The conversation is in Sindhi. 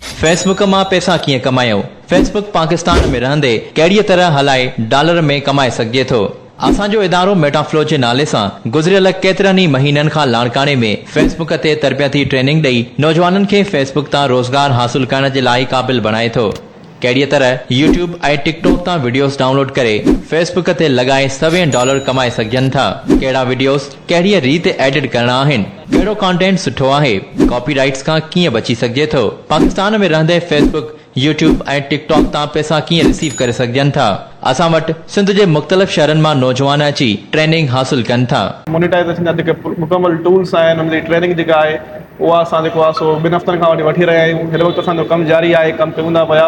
فيس بڪ مان پئسا ڪيئن ڪمايو؟ فيس بڪ پاڪستان ۾ رهندي ڪهڙيء طرح هلائي ڊالر ۾ ڪمائي سگهجي ٿو؟ اسان جو ادارو ميٽافلو جي نالي سان گذريل ڪيترن ئي مهينن کان لاڙڪاڻي ۾ فيس بڪ تي تربيتي ٽريننگ ڏئي نوجوانن کي فيس بڪ تان روزگار حاصل ڪرڻ جي لاء قابل بڻائي ٿو. ڪهڙيء طرح يوٽيوب ۽ ٽڪ ٽاڪ تان وڊيوز ڊائونلوڊ ڪري فيس بڪ تي لڳائي سوين ڊالر ڪمائي سگهجن ٿا؟ ڪهڙا وڊيوز؟ ڪهڙيء ريت ايڊٽ ڪرڻا آهن؟ ڪهڙو ڪانٽينٽ سٺو آهي؟ ڪاپي رائيٽس کان ڪيئن بچي سگهجي ٿو؟ پاڪستان ۾ رهندي Facebook, YouTube ۽ TikTok تان پئسا ڪيئن رسيو ڪري سگهجن ٿا؟ اسان وٽ سنڌ جي مختلف شهرن مان نوجوان اچي ٽريننگ حاصل ڪن ٿا. مونيٽائيزيشن جا جيڪي مڪمل ٽولس آهن ان جي ٽريننگ جيڪا آهي اها اسان جيڪو آهي سو ٻن هفتن کان وٺي وٺي رهيا آهيون هن وقت اسان جو ڪم جاري آهي ڪم ڪيون ٿا پيا